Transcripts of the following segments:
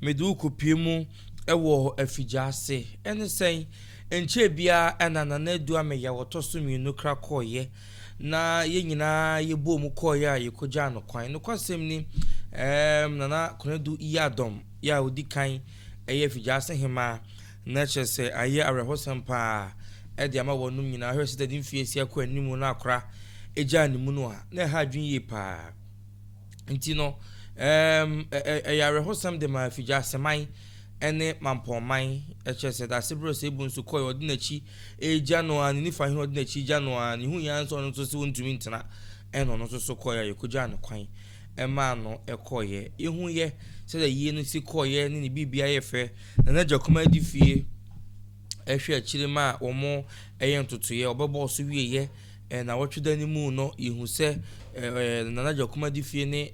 Mede wo kɔpue mu wɔ afigya ase. Ɛne sɛn? Ɛnkyɛɛ biara na Nana Adu Ameyaw a ɔtɔ so mmienu kra kɔeɛ, na yɛn nyinaa yɛboom kɔeɛ a yɛkɔgyaa no kwan. Nokwasɛm ni, ɛɛm, Nana Konadu Yiadom yɛ a ɔdi kan yɛ afigya ase hemmaa, na kyerɛ sɛ ayɛ awerɛhosɛm pa ara de ama wɔnom nyinaa. Hwɛ sɛ dade mfeɛ asia kɔ anim na akora gyaa ne munu a, na ɛha adwene yie pa ara. Nti no, ɛɛm, ɛyɛ awerɛhosɛm de ma Afigyaseman ne Mampɔnman, ɛkyerɛ sɛ dase berɛ Osebu nso kɔe ɔde n'akyi regya no ara, ne Nifa hene ɔde n'akyi regya no ara, ne huiɛ ara nso ɔno nso se ɔntumi ntena, ɛna ɔno nso so kɔeɛ a yɛkɔgyaa no kwan maa no kɔeɛ. Yɛhuiɛ sɛdeɛ yie no si kɔeɛ ne ne biribia yɛ fɛ, na n'agya kumaa di fie hwɛ akyire ma wɔn yɛ ntotoeɛ, ɔbɛbɔɔ so wieɛ, Nnawɔtwe da no mu no, yehu sɛ Nana Gyakuma Adifie ne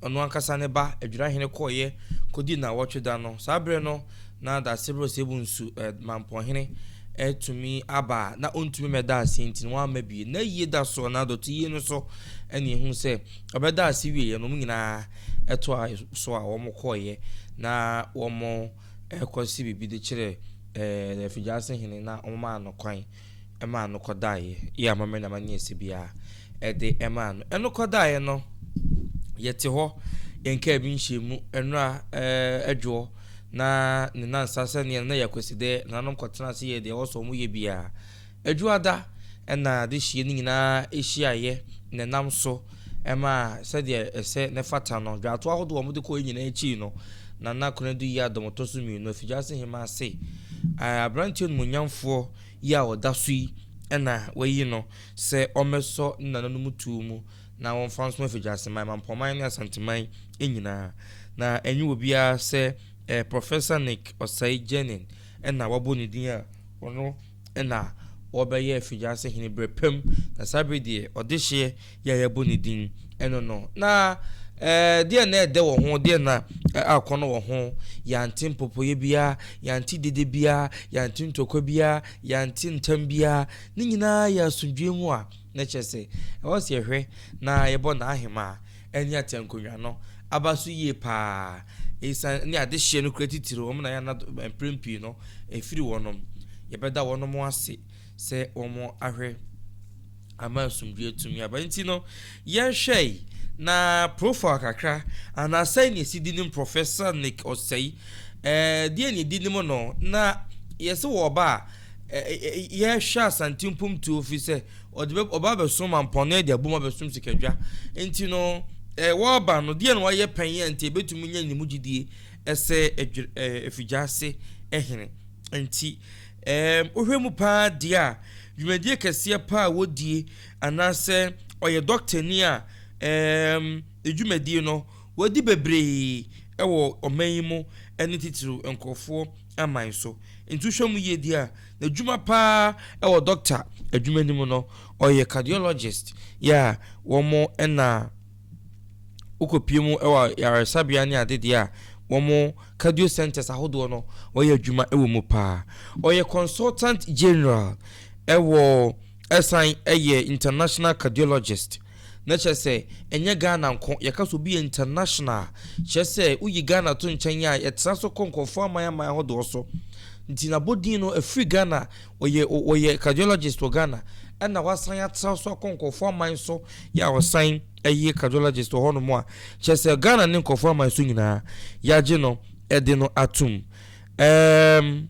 ɔno ankasa ne ba Adwirahene kɔeɛ kɔdii Nnawɔtwe da no. Saa berɛ no, na Daasebre Ɔsɛebu Nsu, Mampɔnhene, atumi aba a na ɔntumi mmɛda ase nti no wamma bie. N'ayie da so anaa dɔteyie no so na yɛhu sɛ ɔbɛdaa ase wieeɛ no, wɔn nyinaa toaa so a wɔkɔeɛ na wɔkɔsii biribi de kyerɛɛ Afigyase Hene na wɔmaa no kwan. Ɛmaa no kɔdaeɛ, yɛ amammerɛ ne amanneɛ a ɛsɛ biara, ɛde ɛmaa no. Ɛno kɔdaeɛ no, yɛte hɔ, yɛnkaa bi nhyɛɛ mu, ɛnora adwoɔ, na ne nansa sɛneɛ no na yɛ akwasidɛ, nananom kɔtenaa ase yɛɛ deɛ ɛwɔ sɛ wɔyɛ biara. Adwuada na adehyeɛ no nyinaa hyiaeɛ, na ɛnam so. Ɛmaa sɛdeɛ ɛsɛ na ɛfata no, dwaato ahodoɔ a wɔde kɔeɛ nyinaa akyiri no, Nana Konadu yɛɛ Adam Ɔtɔ So Mmienu, Afigyase Hemma ase. Ɛɛ, aberanteɛ animuonyamfoɔ yi a ɔda so yi na wɔayi no sɛ ɔmmɛsɔ ne nananom tuo mu na wɔmfa nsom Afigyaseman, Mampɔman ne Asanteman nyinaa. Na ɛnyɛ obiara sɛ ɛɛ Professor Nick Osei Jenin na wɔabɔ ne din a ɔno na wɔbɛyɛɛ Fidiase hene berɛ pam, na saa bere deɛ ɔdehyeɛ yi a yɛabɔ ne din ɛno no. Na ɛɛ deɛ na ɛdɛ wɔ ho, deɛ na akɔnɔ wɔ ho, yɛante mpopoeɛ biara, yɛante dede biara, yɛante ntɔkwa biara, yɛante ntam biara, ne nyinaa yɛ asomdwoeɛ mu a, na kyerɛ sɛ ɛwɔ sɛ yɛhwɛ na yɛbɔ n'ahemaa. anya tiankonwa no aba so yie paa. Esiane ne adehyeɛ no kura titiriw wɔn na yɛana mprɛn pii no ɛfiri wɔnom. Yɛbɛda wɔnom ase sɛ wɔn ahwɛ ama asomdwoeɛ atumi aba. Nti no, yɛnhwɛ yi na profile kakra anaa sɛn na ɛsi di nim Professor Nick Osei. Ɛɛ deɛ na ɛdi nim no na yɛsɛ wɔ ɔba a yɛhwɛ Asante mpomtuo fi sɛ ɔde bɛ ɔba abɛso mampɔn no de abom abɛsom sikadwa nti no ɛɛ wɔreba no deɛ na wɔayɛ pɛn yɛ nti ebetumi nya ne mu gyidie ɛsɛ ɛdwe ɛɛ efigya ase ɛhene nti ɛɛm wohwɛ mu paa deɛ a dwumadie kɛseɛ paa a wɔdie anaasɛ ɔyɛ dɔktani a ɛɛm edwumadie no wɔadi bebree ɛwɔ ɔman yi mu ɛne titiriw nkurɔfoɔ. aman so. Nti wohwɛ mu yie deɛ a, n'adwuma pa ara wɔ dɔkta adwuma no mu no, ɔyɛ cardiologist. Yeah, wɔn na wokɔpue mu wɔ ayaresabea ne ade deɛ a, wɔn cardio centres ahodoɔ no, wɔyɛ adwuma wɔ mu pa ara. Ɔyɛ consultant general wɔ, ɛsan yɛ international cardiologist. Na kyerɛ sɛ ɛnyɛ Ghana nko, yɛka sɛ obi yɛ international a, kyerɛ sɛ woyi Ghana to nkyɛn a, yɛtra so kɔ nkurɔfoɔ aman aman ahodoɔ so. Nti n'abɔdin no, ɛfiri Ghana, ɔyɛ ɔyɛ cardiologist wɔ Ghana, ɛna wasan atra so akɔ nkurɔfoɔ aman so yɛ a ɔsan yɛ cardiologist wɔ hɔnom a, kyerɛ sɛ Ghana ne nkurɔfoɔ aman so nyinaa, yɛagye no de no atom. Ɛɛm.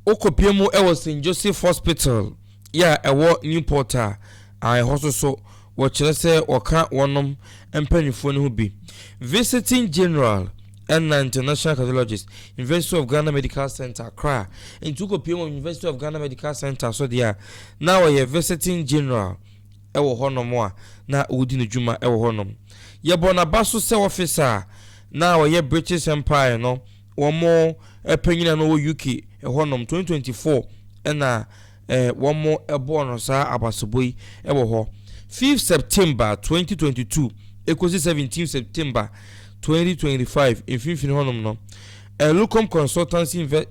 Wokɔpue mu wɔ St. Joseph Hospital yɛ a ɛwɔ Newport a, a ɛhɔ nso so wɔkyerɛ sɛ wɔka wɔnom mpaninfoɔ no ho bi. Visiting General ɛna International Cardiologist, University of Ghana Medical Centre, Accra. Nti wokɔpue mu University of Ghana Medical Centre so deɛ a, na wɔyɛ Visiting General ɛwɔ hɔ nom a, na wɔdi no dwuma ɛwɔ hɔ nom. Yɛbɔ naba so sɛ officer a, na wɔyɛ British Empire no, wɔn panyin a na ɔwɔ UK hɔnom twenty twenty four ɛna wɔbɔɔ no saa abasobɔ yi wɔ hɔ fifth September twenty twenty two ekosi seventeen September twenty twenty five mfimfini hɔnom no Lucom Consultancy Invest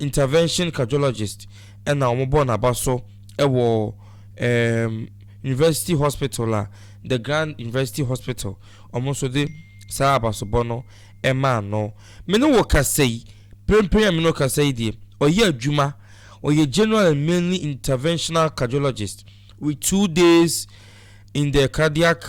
Intervention Cardiologist ɛna wɔbɔɔ n'aba so wɔ ɛɛm University Hospital a the Grand University Hospital wɔn nso de saa abasobɔ no. ɛmaa no. Me ne wo kasa yi, mprempren a me ne wo kasa yi deɛ, ɔyɛ adwuma, ɔyɛ General and Mainly Interventional Cardiologist with two days in the Cardiac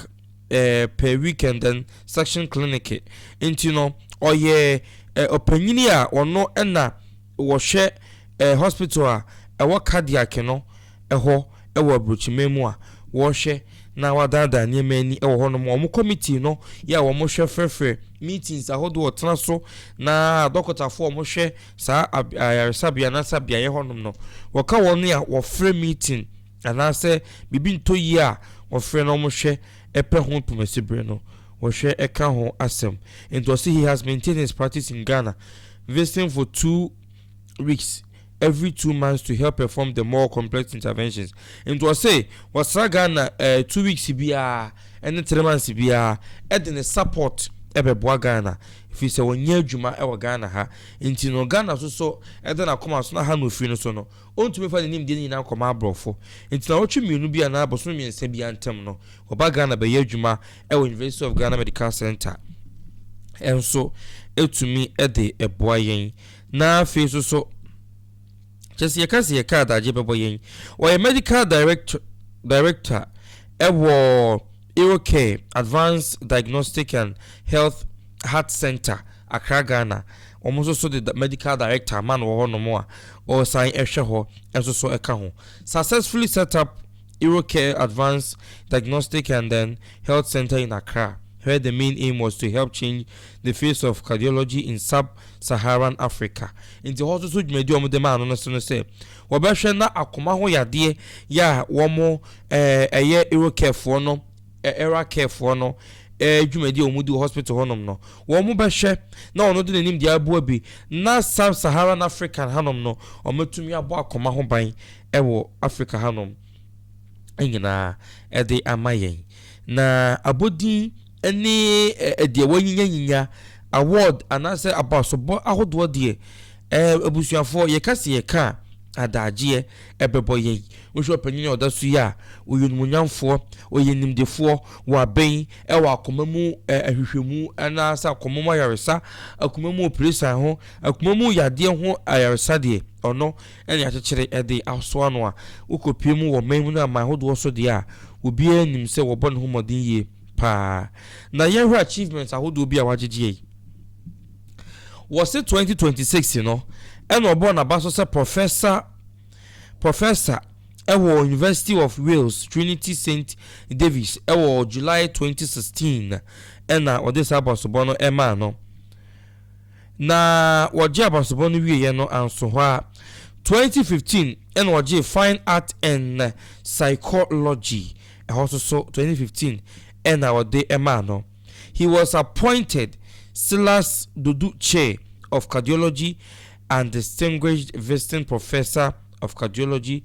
eh, per week and then section clinic. Nti no, ɔyɛ eh, ɔpanyini a ɔno ɛna wɔhwɛ ɛɛ hospital a ɛwɔ cardiac no hɔ wɔ aburokyiman mu a wɔhwɛ na wɔadaadaa nneɛma ani wɔ hɔnom. Wɔn committee no yɛ a wɔhwɛ frɛfrɛ meetings ahodoɔ a wɔtena so na adɔkotafo a wɔhwɛ saa ayaresabea anaasɛ beaeɛ hɔnom no wɔka wɔn a wɔfrɛ meeting anaasɛ biribi ntɔ yie a wɔfrɛ na wɔhwɛ pɛ ho ntomasi bere no wɔhwɛ ka ho asɛm. Nti ɔse he has maintained his practice in Ghana visiting for two weeks every two months to help perform the more complex interventions. Nti ɔse ɔsra Ghana eh, two weeks biara ɛne three months biara ɛde ne support ɛbɛboa Ghana ɛfiri sɛ ɔnyɛ adwuma ɛwɔ Ghana ha nti no Ghana so so ɛda n'akoma so na ha na ofiri no so no Ɔntumi mfa ne nimdeɛ no nyinaa nkɔma aborɔfo. Nti nnawɔtwe mmienu bi anaa bosome mmiɛnsa biara ntam no, ɔba Ghana bɛyɛ adwuma wɔ University of Ghana Medical Centre nso tumi de boa yɛn. Na afei nso so, kyerɛ sɛ yɛka sɛ yɛka adagye bɛbɔ yɛn. Ɔyɛ Medical Direct, Director wɔ Eurocare Advanced Diagnostic and Health Heart Centre. Accra Ghana, wɔn nso so de Medical Director ama no wɔ hɔ nom a ɔresan hwɛ hɔ nso so ka ho. Successfully set up Eurocare Advanced Diagnostic and then Health Centre in Accra where the main aim was to help change the face of cardiology in sub-Saharan Africa. Nti hɔ nso so dwumadi a wɔn de maa no no so no sɛ wɔbɛhwɛ na akoma ho yadeɛ yɛ a wɔn ɛyɛ Eurocare foɔ no Ɛra care foɔ no dwumadie a wɔn di wɔ hospital hɔ nom no, wɔn bɛ hwɛ na wɔn de nanimdeɛ aboa bi na sub Saharan African ha nom no wɔn atumi abɔ akoma ho ban wɔ Africa ha nom nyinaa ɛde ama yɛn. Na abɔdin ne deɛ wɔanyinya nyinya award anaasɛ abasobɔ ahodoɔ deɛ abusuafoɔ yɛka se yɛka a adaagyeɛ ɛbɛbɔ yɛn. Wohwɛ ɔpanyin a ɔda so yi a, ɔyɛ onimonyamfoɔ, ɔyɛ nimdefoɔ, waben, ɛwɔ akoma mu ɛ, ahwehwɛmu anaasɛ akoma mu ayaresa, akoma mu opresan ho, akoma mu yadeɛ ho ayaresa deɛ, ɔno ɛne akyekyere ɛde asoa no a, wokɔpue mu wɔ man mu ne aman ahodoɔ so deɛ a, obiara nim sɛ wɔbɔ ne ho mmɔden yie paa. Na yɛnhwɛ achievements ahodoɔ bi a wagyegyeɛ yi. Wɔse 2026 no, ɛna ɔbɔɔ n'aba so sɛ Professor. Professor wɔ University of Wales Trinity Saint Davies wɔ July 2016 na wɔde saa abasobɔ no maa no. Na wɔgye abasobɔ no wieɛ no anso hɔ a, 2015 na wɔgyee Fine Art and Psychology ɛhɔ nso so 2015 na wɔde maa no. He was appointed Silas Dodu Chair of Cardiology and Distinguished Visiting Professor of Cardiology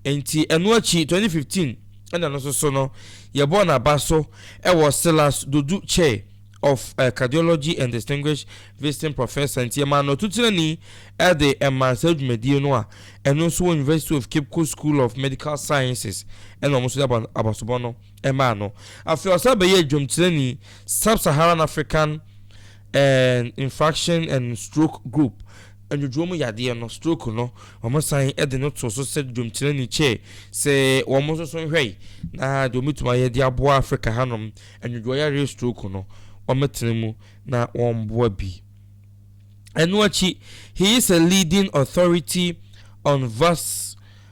nti ɛno akyi twenty fifteen ɛna no nso so no yɛbɔɔ no aba so ɛwɔ Silas Dodu Chair of Cardiology and Distinguished Visiting Professor nti yɛmaa no atutirani ɛde ɛmaa saa dwumadie no a ɛno nso wɔ University of Cape Coast School of Medical Sciences ɛna wɔn nso de aba abasobɔ no ɛmaa no afei ɔsan bɛyɛɛ dwomtirani Sub-Saharan African Ɛɛn Infarction and Stroke Group, Nnwodwoɔ mu yadeɛ no, stroke no, wɔsan de no too so sɛ dwomkyerɛni kyɛɛ sɛ wɔn nso so nhwɛe na deɛ wɔbɛtumi ayɛ de aboa Afrika hanom nnwodwoɔ yareɛ stroke no wɔtena mu na wɔboa bi. Ɛno akyi, he is a leading authority on vas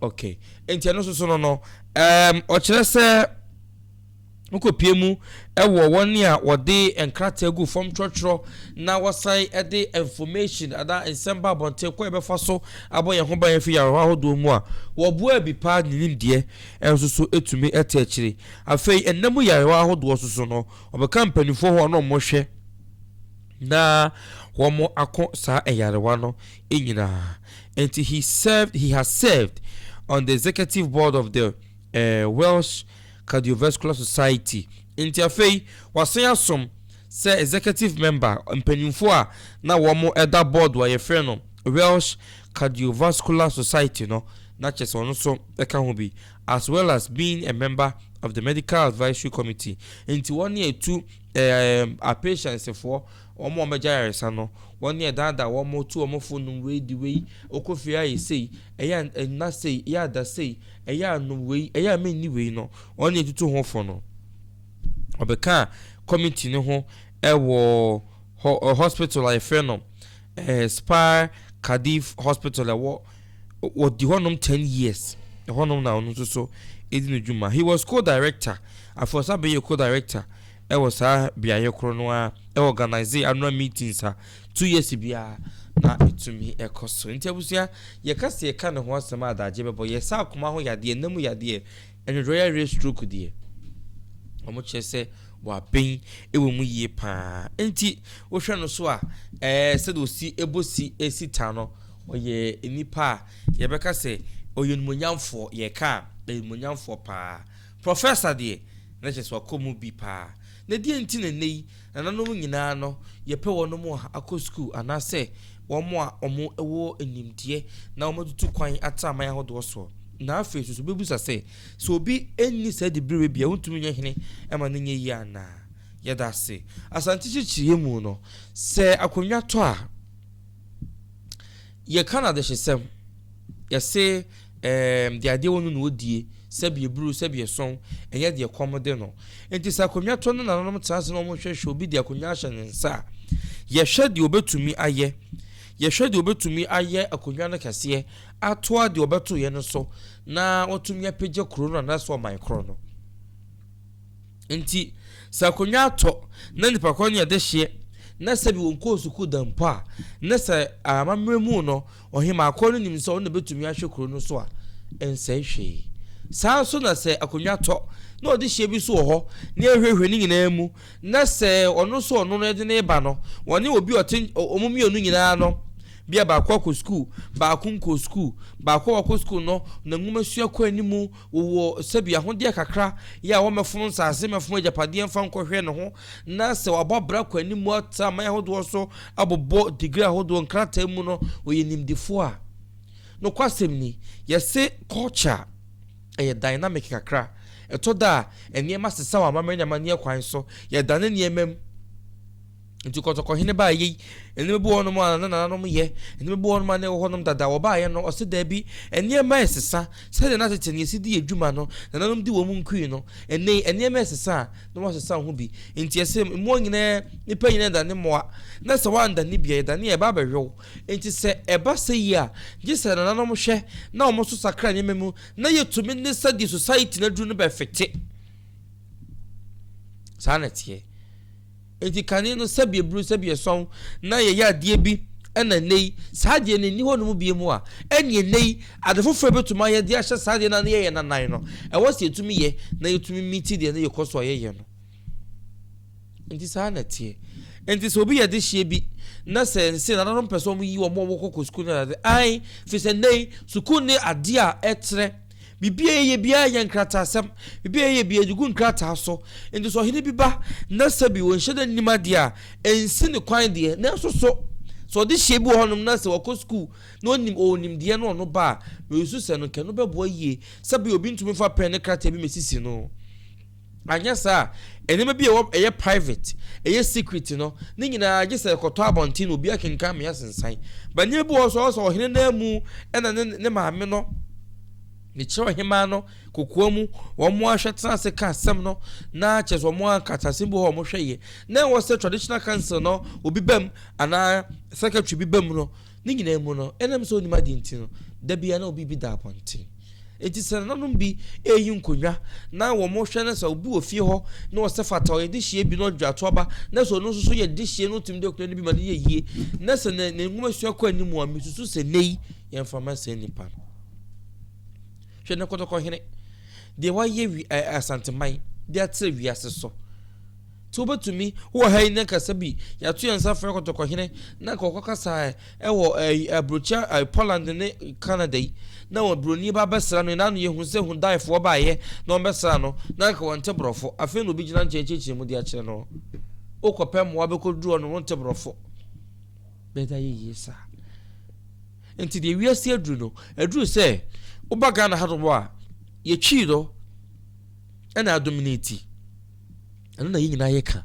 ok nti ɛno soso no no um, ɔkyerɛ sɛ wokɔpie mu wɔ wɔn a wɔde nkrataa gu fam twerɛtwerɛ na wɔsan de information anaa nsɛm ba abɔnten kɔ yɛbɛfa so abɔ yɛn ho ban afi yarewa ahodoɔ mu a wɔboa bi paa ne nimdeɛ nso so ɛtumi ɛte akyiri afei ɛnna mu yarewa ahodoɔ so so no wɔbɛka mpanimfoɔ hɔ ɔno wɔhwɛ na wɔn ako saa ɛyarewa no nyinaa Enti he served, he has served on the executive board of the eh, Welsh Cardiovascular Society. Enti afei wasan asom sɛ executive member, mpanyimfo a na wɔn da board a yɛfrɛ no Welsh Cardiovascular Society no, na kyerɛ sɛ ɔno nso ka ho bi, as well as being a member of the Medical Advisory Committee. Enti wɔn ne ɛtu eh, apatientsfoɔ Wɔn a wɔagya ayaresa no, wɔn ne ɛdaadaa wɔn ma wɔtu wɔn fo nom wei, di wei, wokɔ fie a yɛ sei, ɛyɛ a nna sei, ɛyɛ a da sei, ɛyɛ a nom wei, ɛyɛ a menni wei no, wɔn na ɛtutu ho fo no. Wɔbɛkaa kɔmiti no ho wɔ hospital a yɛfrɛ no Spar Cardiff Hospital, ɛwɔ, wɔdi hɔnom ten years, ɛhɔnom na ɔno nso so ɛdi ne dwuma. He was co-director, afei ɔsan bɛyɛɛ co-director wɔ saa beaeɛ korɔ no ara ɛ organise annual meetings a two years biara na ɛtumi ɛkɔ so nti abusua yɛka sɛ yɛka ne ho asɛm a adagye bɛbɔ yɛ sɛ akoma ho yadeɛ nna mu yadeɛ ɛnwodwɔ yareɛ stroke deɛ wɔn kyerɛ sɛ wɔabɛn ɛwɔ mu yie paa nti wohwɛ no so a ɛɛ sɛdeɛ osi ɛbɔ si ɛsi ta no ɔyɛ nipa a yɛbɛka sɛ ɔyɛ nimonyamfoɔ yɛka a ɛyɛ nimonyamfoɔ paa Professor deɛ, na kyerɛ sɛ wakɔ mu bi paa. Na deɛn nti na nnɛ yi nananom nyinaa no yɛpɛ wɔn a akɔ sukuu anaasɛ wɔn a wɔwɔ nimdeɛ na wɔatutu kwan atra aman ahodoɔ soɔ? Na afei nso so bɛbusa sɛ, sɛ obi nni saa dibereɛ bi a ɔntumi nyɛ hene ɛma no nyɛ yie anaa? Yɛda ase. Asante kyekyereyɛ mu no, sɛ akonnwa tɔ a, yɛka no adehyesɛm, yɛse, Erm, deɛ adeɛ wɔ no na ɔdie, sɛbi ɛburu, sɛbi ɛsɔn, ɛnyɛ deɛ kɔm de no. Nti sɛ akonnwa tɔ no na nananom tena ase na wɔhwɛ hwɛ obi de akonnwa ahyɛ ne nsa a, yɛhwɛ deɛ ɔbɛtumi ayɛ. Yɛhwɛ deɛ ɔbɛtumi ayɛ akonnwa no kɛseɛ atoa deɛ ɔbɛtoeɛ no so na watumi apagya kuro no anaasɛ ɔman korɔ no. Nti sɛ akonnwa atɔ na nipa korɔ ne ɛde hyeɛ na sɛbi wɔnkɔɔ sukuu da mpo a, ne sɛ amammerɛ mu no, Ɔhemmaa korɔ no nim sɛ ɔno na bɛtumi ahwɛ kuro no so a ɛnsɛe hwee. Saa ara nso na sɛ akonnwa tɔ, na ɔde hyeɛ bi nso wɔ hɔ, na ɛhwehwɛ ne nyinaa mu, na sɛ ɔno nso ɔno no de no reba no, ɔne obi ɔte wɔn mmienu nyinaa no, bia baako akɔ sukuu, baako nkɔɔ sukuu, baako a wakɔ sukuu no, na nwoma sua kɔ anim, wɔwɔ sɛbi ahodeɛ kakra, yɛ a wɔmmɛfono nsase, mmɛfono agyapadeɛ mfa nkɔhwɛ ne ho, na sɛ wabɔ abira kɔ anim atra aman ahodoɔ so abobɔ digrii ahodoɔ nkrataa mu no, ɔyɛ nimdefoɔ a. Nokwasɛm ni, yɛse culture a, ɛyɛ dynamic kakra. Ɛtɔ da a, nneɛma sesa wɔ amammerɛ ne amanneɛ kwan so, yɛdane nneɛma mu. Nti Kɔtɔkɔhene baa yei, nneɛma bi wɔ hɔnom a na nananom yɛ, nneɛma bi wɔ hɔnom a na ɛwɔ hɔnom dada, wɔbaeɛ no, ɔse daabi, nneɛma resesa, sɛdeɛ na tete no yɛsi di yɛn dwuma no, nananom di wɔn nkui no, ɛnnɛ yi, nneɛma resesa a, na wɔasesa ho bi. Enti ɛsɛ mmoa nyinaa, nnipa nyinaa dane mmoa, na sɛ wɔandane bi a, yɛdane a ɛba abɛhwɛ wo. Enti sɛ ɛba sɛ yi a, gye sɛ nananom hwɛ na wɔn nso sakra nneɛma mu na yɛtumi ne sɛdeɛ society no aduru no bɛfete. Saa na ɛteɛ. Enti kane no sɛbi eburu sɛbi ɛsɔn na yɛyɛ adeɛ bi ɛna nnɛ yi saa adeɛ no nni hɔ nom bie mu a, ɛneɛ nnɛ yi Ade foforo a ebetumi ma yɛde ahyɛ saa deɛ no a na yɛyɛ no anan no, ɛwɔ sɛ yetumi yɛ na yetumi miti deɛ na yɛkɔ so a yɛyɛ no. Enti saa na ɛteɛ. Enti sɛ obi yɛ adehyeɛ bi na sɛ nse nananom pɛ sɛ wɔyi wɔn a wɔkɔ kɔ sukuu no ade, ae, firi sɛ nnɛ yi sukuu ne adeɛ a ɛkyerɛ biribi a yɛyɛ biara yɛ nkrataasɛm, biribi a yɛyɛ biara yɛde gu nkrataa so. Enti sɛ ɔhene bi ba na sɛ bi wɔnhyɛ da nnim adeɛ a, ɛnsi ne kwan deɛ, nanso so sɛ ɔdehyeɛ bi wɔ hɔnom na sɛ wɔkɔ sukuu Na onim ɔwɔ nimdeɛ no ɔno ba a, na oesusu sɛ no nka no bɛboa yie sɛ bi a obi ntumi mfa pɛn ne krataa bi mmesisi no. Annyɛ saa a, nneɛma bi a ɛwɔ ɛyɛ private, ɛyɛ secret no, ne nyinaa gye sɛ ɛkɔtɔ abɔnten na obi akenkan ma yɛasensan. But nneɛma bi wɔ hɔ nso a ɔwɔ sɛ ɔhene no ara mu na ne ne maame no, ne kyerɛ ɔhemaa no, kokoa mu, wɔn ara hwɛ tena ase ka asɛm no na kyerɛ sɛ wɔn ara nka te asɛm bi wɔ hɔ a wɔhwɛ yɛ. Na ɛwɔ sɛ traditional council no obi ba mu anaa secretary bi ba mu no, Ne nyinaa mu no, ɛnam sɛ onnim ade nti no, da biara na obi bi da abɔnten. Enti sɛ nananom bi reyi nkonnwa na wɔhwɛ na sɛ obi wɔ fie hɔ na ɔsɛ fata ɔyɛ dehyeɛ bi na ɔdwe ato aba na sɛ ɔno nso so yɛ dehyeɛ na ɔtumi de akonnwa no bi ma no yɛ yie na sɛ ne nwoma sua kɔ anim a mesusu sɛ nnɛ yi yɛmfa ma saa nnipa no. Hwɛ na kɔtɔkɔhene deɛ wayɛ wi Asanteman de atrɛ wiase so. So wobetumi? Wowɔ ha yi nnɛ kasa bi, yɛato yɛn nsa afrɛ kɔtɔkɔhene na nka ɔkɔkasae wɔ ɛyi, aburokyia, ɛyi, Poland ne Canada yi, na wɔn buroni ba bɛsra no, yɛn ano yɛ hu sɛ Hundaefoɔ baeɛ na wɔbɛsraa no, na nka wɔnte borɔfo, afei na obi gyina nkyɛn rekyerɛkyerɛ mu de akyerɛ no. Wokɔpɛ mmoa bɛkɔduru hɔ no, wonte borɔfo. Bɛda yɛ yie saa. Nti deɛ wiase aduru no, aduru sɛ woba Ghana ha nom a, yɛtwii no ɛna adominate. Ɛno na yɛn nyinaa yɛka.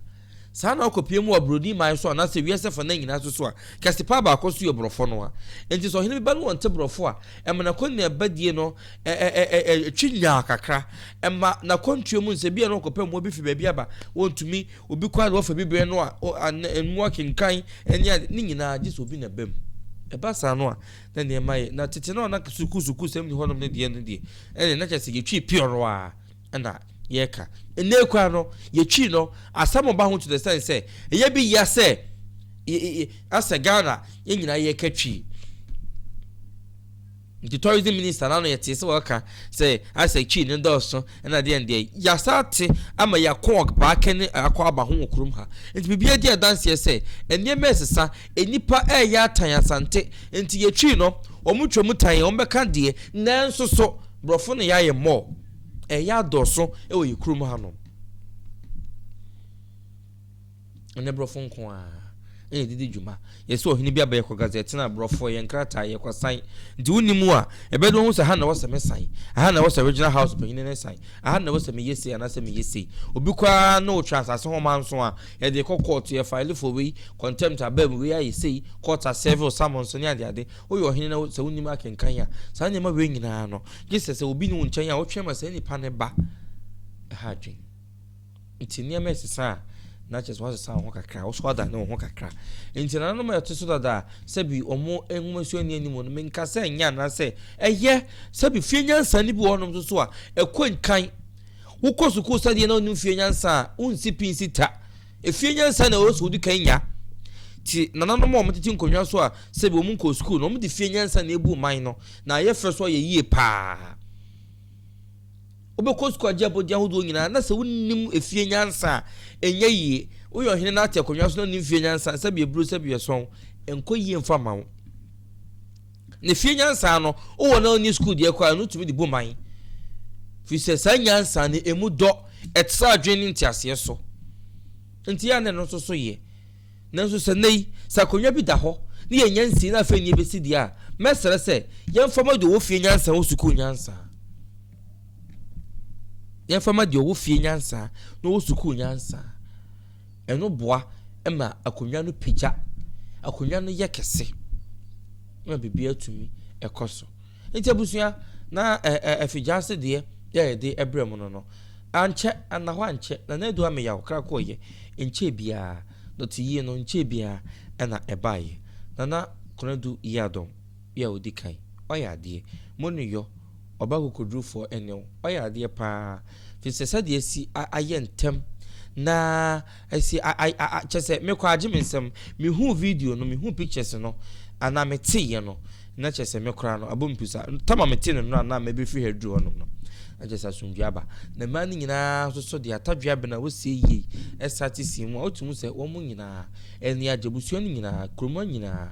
Saa ara na ɔkɔpue mu wɔ Broni man so anaasɛ wiase afanan nyinaa nso so a, kɛse paa baako nso yɛ Borɔfo no ara. Enti sɛ ɔhene bi ba na ɔnte Borɔfo a, ɛma n'akɔneabadie no twe nyaa kakra. Ɛma n'akwantuo mu no, sɛ ebia na ɔkɔpɛ mmoa bi fi baabi aba, ɔntumi, obi kɔ a na wafa bi brɛ no a, mmoa kenkan ne ade, ne nyinaa gye sɛ obi na ɛba mu. Ɛba saa no a, na nneɛma yɛ. Na tete no a na sukuusukuusɛm nni hɔnom no deɛ no deɛ, ɛnneɛ na kyerɛ sɛ yɛtwi piɔrɔ ara. na yɛka. Ndɛ koraa no, yetwii no, asɛm ɔba ho to the extent sɛ, eyɛ bi yia sɛ asɛ Ghana yɛn nyinaa yɛka Twi. Nti tourism minister n'ano yɛtee sɛ wɔka sɛ asɛ Twi no dɔɔso na deɛ ndeɛ. Yɛasa ate ama yɛako ɔbaaka ne akɔ aba ho wɔ kurom ha. Nti biribiara di adanseɛ sɛ nneɛma resesa, nnipa reyɛ atan Asante. Nti yɛtwii no, wɔtwa mu tan yɛn, wɔbɛka deɛ, nanso so Borɔfo ne yɛayɛ more. Ɛyɛ adɔɔso wɔ yɛ kurom hanom. Ɛnyɛ borɔfo nko a ɛna ɛde di dwuma. Yɛ sɛ ɔhene bi abɛyɛ kɔ Gaza ɛtena aborɔfo ɛyɛ nkrataa yɛ kɔ san. Nti wo nim a ɛbɛde wɔn ho sɛ aha na wɔsɛ me san. Aha na wɔsɛ regional house panyini ne san. Aha na wɔsɛ me yɛ sei anaasɛ me yɛ sei. Obi kɔ ara ne wo twɛn asase ho manso a yɛde kɔ court yɛ file for wei contempt abaa mu wei ayɛ sei court asɛve wo summons ne ade ade. Woyɛ ɔhene na sɛ wo nim akenkan a saa nneɛma wei nyinaa no Gye sɛ sɛ obi nni wo nkyɛn a wotwe ma saa nipa no ba. Ɛha adwene. Nti nneɛma ɛsesa a, na kyerɛ sɛ woasesa wo ho kakra, wo so adane wo ho kakra. Nti nananom a ɛte so dada a, sɛbi wɔn nwoma suani anim no, menka sɛ nyɛ anaasɛ ɛyɛ, sɛbi fie nyansa no bi wɔ hɔnom nso a, ɛkɔ nkan. Wokɔ sukuu sɛdeɛ na wonim fie nyansa a, wonsi pi nsi ta. Efie nyansa na ɛwɔ sɛ wodi kan nya. Te nananom a wɔtete nkonnwa so a sɛbi wɔnkɔɔ sukuu no, wɔde fie nyansa na ebu mman no, na ayɛ fɛ so ayɛ yie paa. Wobɛkɔ sukuu agye abɔde ahodoɔ nyinaa, na sɛ wonnim efie nyansa a, ɛnyɛ yie. Woyɛ ɔhene na ate akonnwa so na wonnim fie nyansa a, sɛbi aburo, sɛbi ɛsɔn, ɛnkɔ yie mfa mma wo. Ne fie nyansa no, wowɔ na wonni sukuu deɛ koraa no, wotumi de bu man. Firi sɛ saa nyansa no, emu dɔ, ɛtra adwene ne nteaseɛ so. Nti yɛ a na ɛno nso so yɛ. Nanso sɛ nnɛ yi, sɛ akonnwa bi da hɔ na yɛnnya nsie na afei nneɛ bɛsi deɛ a, mɛsrɛ sɛ yɛmfa ma deɛ ɔwɔ fie nyansa wɔ sukuu nyansa. Yɛmfa ma deɛ ɔwɔ fie nyansa na ɔwɔ sukuu nyansa. Ɛno boa ma akonnwa no pagya, akonnwa no yɛ kɛse na biribiara tumi kɔ so. Nti abusua, na afigyaase deɛ yɛ yɛde brɛ mu no no, ankyɛ, anna hɔ ankyɛ, na na adu ameyaw kra kɔɔyɛ, nkyɛɛ biara, dɔte yie no nkyɛɛ biara ɛna ɛbaeɛ. Nana Konadu Yiadom yɛ ɔdi kan, wayɛ adeɛ, mo ne yɔ. Ɔba kokodurufɔɔ ɛne wo, ɔyɛ adeɛ paa, firi sɛ sɛdeɛ asi ayɛ ntɛm na asi a-a-a-a, kyerɛ sɛ me koraa gye me nsam, me huu video no, me huu pictures no, anaa me teeɛ no, na kyerɛ sɛ me koraa no, abɔ me pusa, time a me tee no no na me bɛfiri ha aduru hɔnom no, na kyerɛ sɛ asomdwoeɛ aba, na mmaa no nyinaa nso so deɛ atadwea bɛn a wɔsie yie ɛsate sii mu a, wotumi hu sɛ wɔn nyinaa ani agye, abusua no nyinaa, kurom ha nyinaa.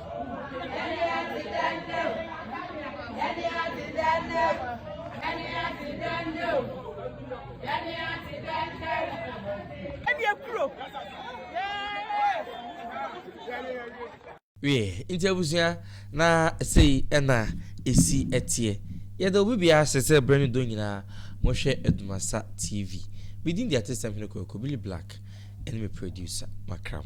wie nti abusua na sei ɛna esi ɛteɛ yɛda obi biara sɛ sɛ berɛ ne dɔ nyinaa mohwɛ adumasa tv medin de atesɛm hene kwaku billy black ɛne me producer makram